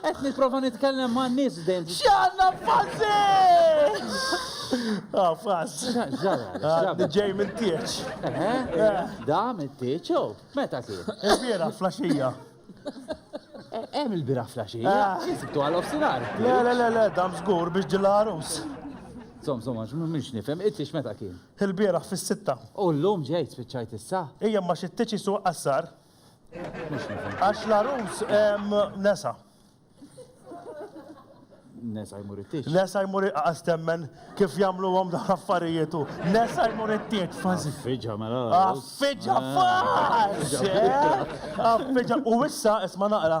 Qed nipprova nitkellem ma' nies dejjem. X'għandna fazzi! Ah, fazz. Ġej minn tieċ. Da minn tieċ, oh, meta kien? Il-bira flaxija. Hemm il-bira flaxija. Sibtu għal ofsinar. Le, le, le, le, dam żgur biex ġilla għarus. Zom, zom, għax mhux nifhem, it-tieċ meta kien? Il-bira fis-sitta. U llum ġejt spiċċajt issa. Ejja ma xi tieċ isuq qassar. Għax l-arus hemm nesa. Nesa jmur it-tieġ. Nesa jmur iqqas temmen kif jagħmluhom dawn affarijiet u nesa jmur it-tieġ fażi. Affiġa mela. Affiġa fażi. Affiġa u issa isma' naqra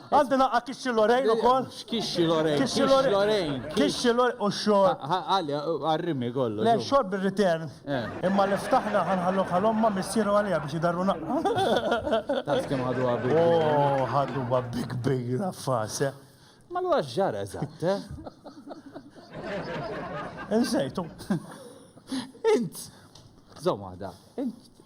Għandi naqqa' Kixxi Lorraine ukoll? X'Kixxi Lorraine? Kixxi Lorraine. Kixxi Lorraine u x-xorb. Għali, għarrimni kollox. Le, xorb ir-return. Imma li ftaħna ħa nħalluh għal ommha, missieru għaliha biex idarru naqqa'. Taf kemm ħaduha bi kbira. Oh, ħaduha bi kbira f'għas, eh? Ma allura x'ġara eżatt, eh? Insejtu. Int! Żomm waħda. Int.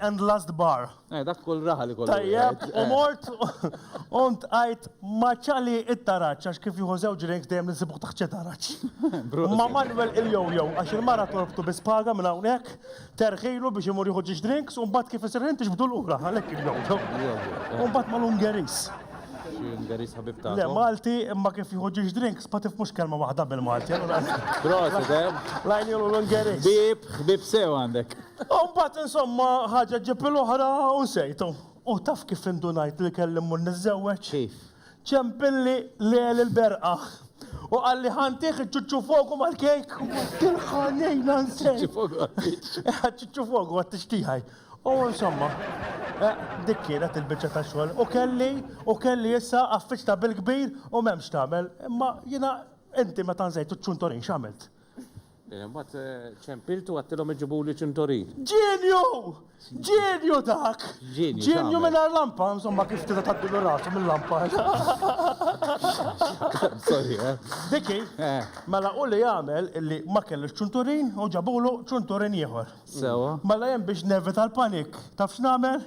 and last bar. Eh, dak kull raħal ikollu. Tajjeb, u mort u ntqajt ma' ċali it-taraċ, għax kif jieħu żewġ drinks dejjem nsibuh taħt xi taraċ. Ma' Manuel il-jojo, għax il-mara torbtu bi spaga minn hawnhekk, terħilu biex imur jieħu ġiex drinks, u mbagħad kif isir ħin tixbdu lura, għalhekk il-jojo. U mbagħad mal-Ungeris. Ungeris ħabib ta' Le, Malti, imma kif jieħu ġiex drinks, ma tifmux kelma waħda bil-Malti. Prosit, eh? Lajn jolu l-Ungeris. Bib, bib sew għandek. U mbagħad insomma ħaġa ġġib il-oħra u nsejtu. U taf kif indunajt li kelli mmur niżżewweġ? Kif? Ċempilli Leel il-berqa u qalli ħa ntieh iċ-ċuċċu fogu mal-kejk. Tilqa' lejla nsejt. Ċuċċu fogu għat-tieġ. Ċuċċu fogu għat-tieġ tiegħi. U insomma, dik kienet il-biċċa ta' xogħol. U kelli, u kelli issa affiċċta bil-kbir u m'hemm x'tagħmel. Imma jiena, inti meta nsejt iċ-ċunturin x'għamilt? Mbagħad ċempiltu u għadtilhom iġibuli ċintorin. Ġenju! Ġenju dak! Ġenju mingħajr lampa, insomma kif tista' tgħaddilu rasu mill-lampa. Sorry, eh? Diki, eh. mela u li jagħmel illi ma kellux ċunturin u ġabulu ċunturin ieħor. Sewa. Mela hemm biex nevita l-panik. Taf x'nagħmel?